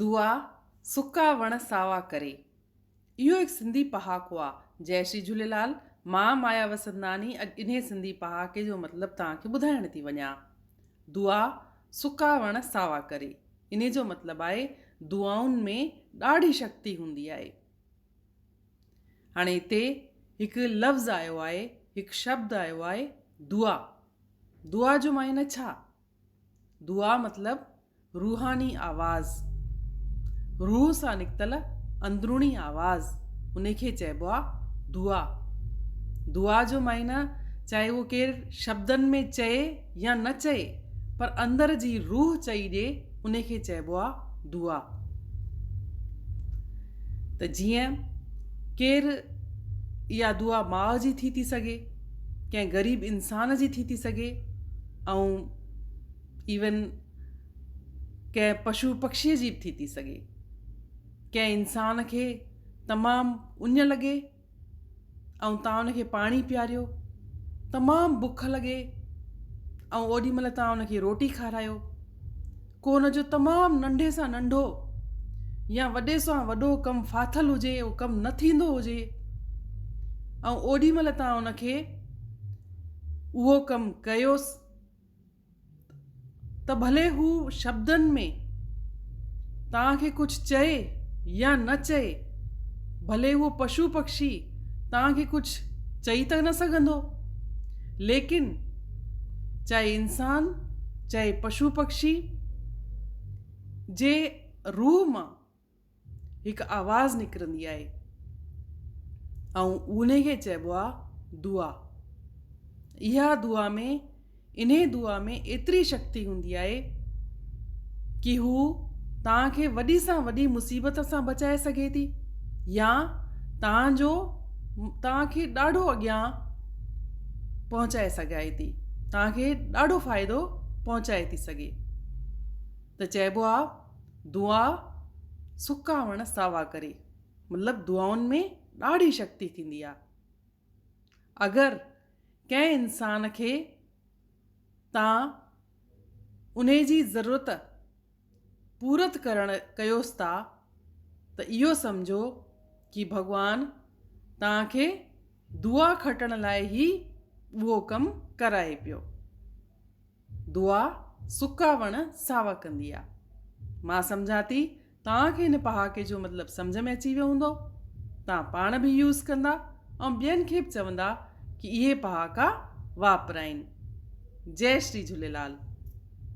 دعا، سڪا وڻ ساوا ڪري. اهو هڪ سنڌي پهاڪو آ. جئي شري جهوليلال، مان مايا وسنداني اڄ انهي سنڌي پهاڪي جو مطلب توهان کي ٻڌائڻ ٿي وڃان. دعا، سڪا وڻ ساوا ڪري. انهي جو مطلب آهي دعائن ۾ ڏاڍي شڪتي هوندي آهي. هاڻي هتي هڪ لفظ آيو آهي، هڪ شبد آيو آهي دعا. دعا جو معنيٰ ڇا؟ دعا مطلب روحاني آواز، روح سان نڪتل اندروني آواز ان کي چئبو آ دعا. دعا جو معنيٰ چاهي اهو ڪير شبدن ۾ چئي يا نه چئي پر اندر جي روح چئي ڏي ان کي چئبو آ دعا. ته جيئن ڪير اها دعا ماء جي ٿي ٿي سگهي، ڪنهن غريب انسان جي ٿي ٿي سگهي. ۽ ايون ڪنهن پشو پکشيء جي به ٿي ٿي سگهي ڪنهن انسان کي تمام اڃ لڳي ۽ تان ان کي پاڻي پياريو تمام بک لڳي ۽ اوڏي مهل تان ان کي روٽي کارايو ڪو ان جو تمام ننڍي سان ننڍو يا وڏي سان وڏو ڪم ڦاٿل هجي اهو ڪم نه ٿيندو هجي ۽ اوڏي مهل تان ان کي اهو ڪم ڪيوس ته ڀلي هو شبدن ۾ تان کي ڪجهه چئي يا نه چئي ڀلي اهو پشو پکشي تان کي ڪجهه چئي ته نه سگهندو ليڪن چاهي انسان چاهي پشو پکشي جي روح مان هڪ آواز نڪرندي آهي ۽ انهي کي چئبو آهي دعا اها دعا ۾ انهي دعا ۾ ايتري شڪتي هوندي آهي ڪي هو توهان کي وڏي سان وڏي مصيبت سان بچائي سگهي ٿي يا توهان جو توهان کي ڏاڍو اڳيان پهچائي سگهائي ٿي توهان کي ڏاڍو فائدو پهچائي ٿي سگهي ته چئبو آ دعا سڪا وڻ ساوا ڪري مطلب دعائن ۾ ڏاڍي شڪتي ٿيندي آ اگر ڪنهن انسان کي تان انهي جي ضرورت پورت ڪرڻ ڪيوس ٿا ته اهو سمجهو ڪي ڀڳوان توهان کي دعا کٽڻ لاء هي اهو ڪم ڪرائي پيو. دعا سڪا وڻ ساوا ڪندي آ. مان سمجهان ٿي توهان کي هن پهاڪي جو مطلب سمجهه ۾ اچي ويو هوندو. توهان پاڻ به يوز ڪندا ۽ ٻين کي به چوندا ڪي اهي پهاڪا واپرائين. جئي شري جهوليلال.